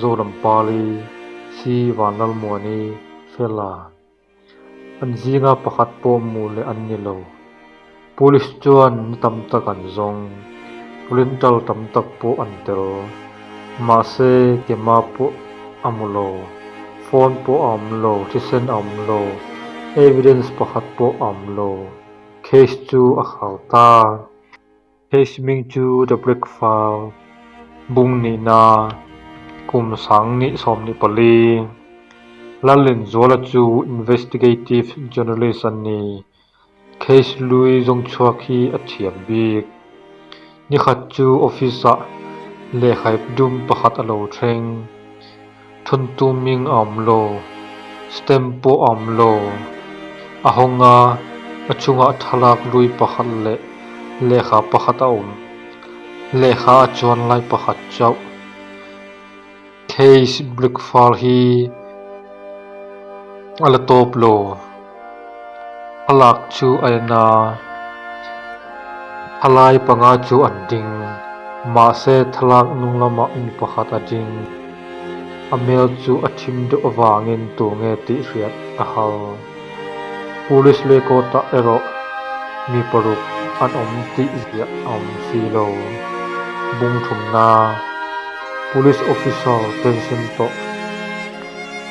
Zoram Pali, Sri Van Lalmuani, Fela, an zinga pakhat pawh hmuh leh an ni lo. Police chuan ni tam tak an zawng, pulin tal tam tak pawh an tel. Mahse kema pawh a mu lo, phone pawh a awm lo, thisen a awm lo, evidence pakhat pawh a awm lo. Case chu a hau ta. Hei siming chu The Brick File bung nihna kum sang ni sawm ni pali Lallen Zuala chu investigative journalist a ni, case lui zawng chhuak hi a thiam bik. Nikhat chu office ah lehkhaip dum pakhat a lo thleng. Thuntu ming a awm lo, stamp pawh a awm lo. A hawng a, a chungah thlalak lui pakhat leh lehkha pakhat a awm. Lehkha a chuan lai pakhat chauh, Case Brickfall hi a la tawp lo. a lak chu a en a, a lai panga chu an ding, mahse thlalak hnung lamah mi pakhat a ding, a hmel chu a thim deuh avangin tur nge tih hriat a hal. Police leh court-ah erawh mi paruk an awm tih ziah a awm si lo. Bungthumna, Police officer pension tawh.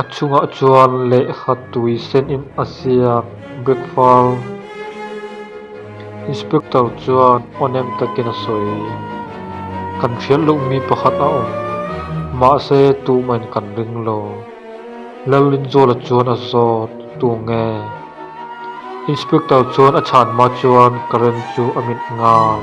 a chungah chuan lehkha tui sen in a ziak breakfar inspector chuan awn em takin a sawi kan hriat loh mi pakhat a awm mahse tuma in kan ring lo Lalrinzawla chuan a zawt tu nge inspector chuan a chhan hma chuan current chu a mit nghal.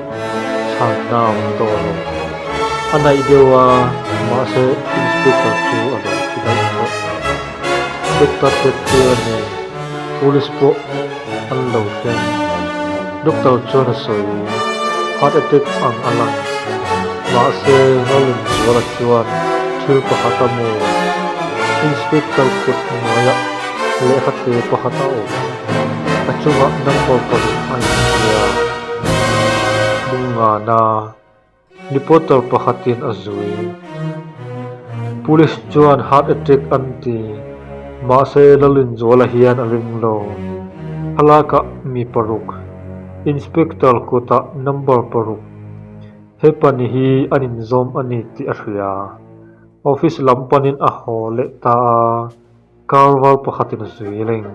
chhak na a awm tawh a ni. A naih deuh a, mahse Inspector chu a rawn thi daih tawh. Doctor hrep tir a ni, Police pawh an lo hreng. Doctor chuan a sawi, Heart attack ang a lang, mahse Ngalinzuala chuan thil pakhat a mu. Inspector kut hnuaiah lehkha te pakhat a awm. A chungah number paruk a inzia bung nghana reporter pakhatin a zui. Police chuan heart attack an ti, mahse Lalinzuala hian a ring lo. A lakah mi paruk, Inspector kutah number paruk, he pani hi an inzawm a ni tih a hria. Office lam panin a haw leh ta a. Car var pakhatin zui la in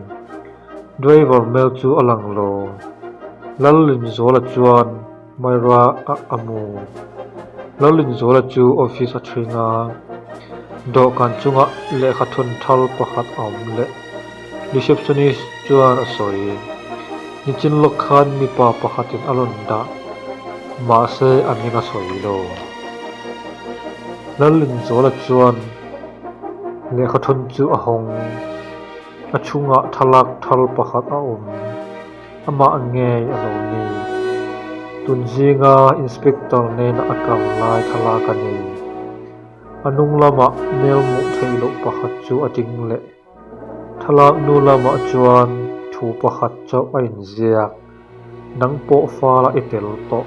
driver hmel chu a lang lo. Lalrinzawla chuan Myra a a mu. Lalrinzawla chu office a thring a, dawhkan chungah lehkha thun thar pakhat a awm leh. Receptionist chuan a sawi, Nichin lawk khan mipa pakhatin a rawn dah, mahse a ming a sawi lo. Lalrinzawla chuan. Lehkha thun chu a hawng. A chhungah thlalak thar pakhat a awm. Amah ngei a lo ni. Tun zinga Inspector nena a kal lai thlalak a ni. A hnung lamah melmuh theih loh pakhat chu a ding leh. Thlalak nu lamah chuan thu pakhat chauh a inziak. Nang pawh fara i tel tawh.